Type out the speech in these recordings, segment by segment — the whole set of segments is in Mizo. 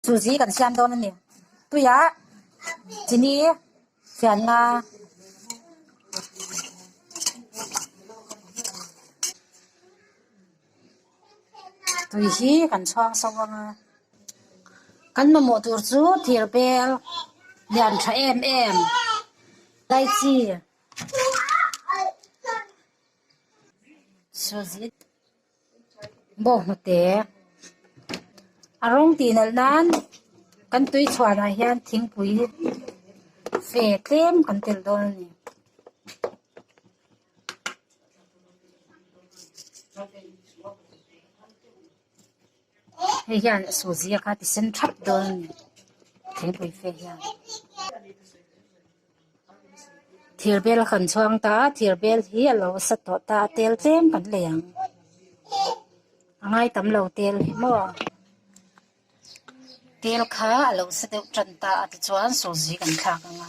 Chu zî kan siam dawn a ni. Tuiah chini fianna tui hi kan chhuang so vang a, kan mamawh tur chu thîr bêl lian ṭha êm êm lychee chu zî. bawk hmu te a rawng tih nalh nan kan tui chhuan ah hian thingpui fe tlem kan tel dawn a ni. Hei hian a saw zia kha ti sen thap dawn a ni. Thingpui fe hian thir bel a kan chuang ta a, thir bel hi a lo sa tawh ta a, tel tlem kan lei ang. A ngai tam lo tel hi maw. Tel kha a lo sa deuh tan ta a tichuan saw zi kan thlak ang a.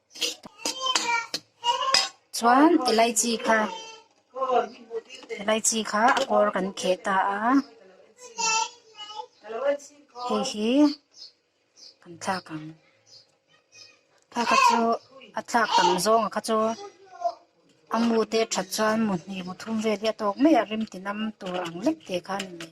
chuan elaichi kha elaichi kha a kawr kan kheh ta a hei hi kan thlak ang thlak a chu a thlak tam zawnga kha chu a mute that chuan mutni muthum vel hi a tawk mai a rim tinam tur ang lek te kha a ni mai.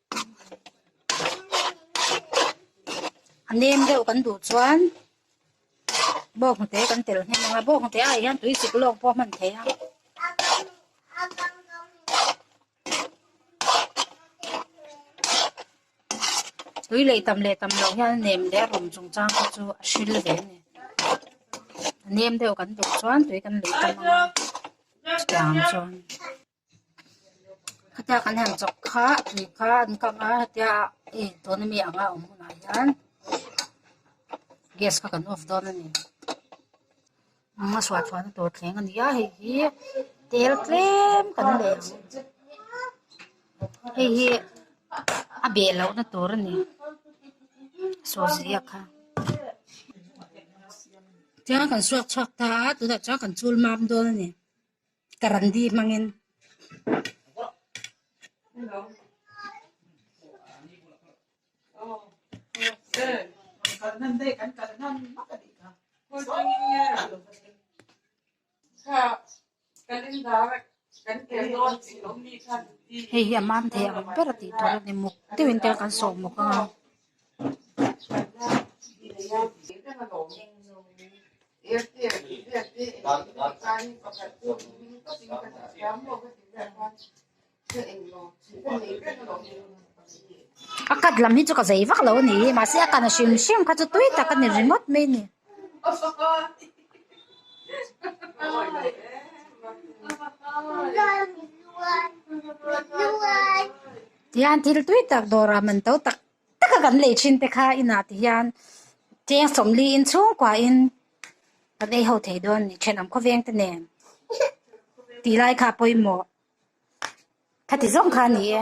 nem deuh kan duh chuan bawnghnute kan tel nghem ang a bawnghnute ah hian tui suk lawk pawh a hman theih a. tui leh tam leh tam loh hian nem leh a rum chung chang te chu a hrilh ve a ni. nem deuh kan duh chuan tui kan leh tam ang a chutiang ang chuan. Khatiak an han chawk kha a tui kha an kang a hetia ih tuna mi anga awm hunah hian gas kha kan off dawn a ni eng a chhuah chhuahna tur thleng a ni a hei hi tel tlem kan nei ang hei hi a beh loh na tur a ni saw zia kha tiang kan chhuak chhuak ta a tunah chuan kan chul mam dawn a ni. ka ran di hmangin hei hi a mam thei ang ber a tih tur a ni muk deuhin tel kan sawh muk ang a. A khat lam hi chu ka zei vak lo a ni mahse a kan a hrim hrim kha chu tui tak a ni ringawt mai a ni. Tihian thil tui tak dawrah man to tak tak a kan lei thin te kha inah ti hian cheng sawm li in chhungkuahin ka lei ho thei dawn a ni. Thenawm khawveng te nen tih lai kha pawimawh kha ti zawng kha a ni e.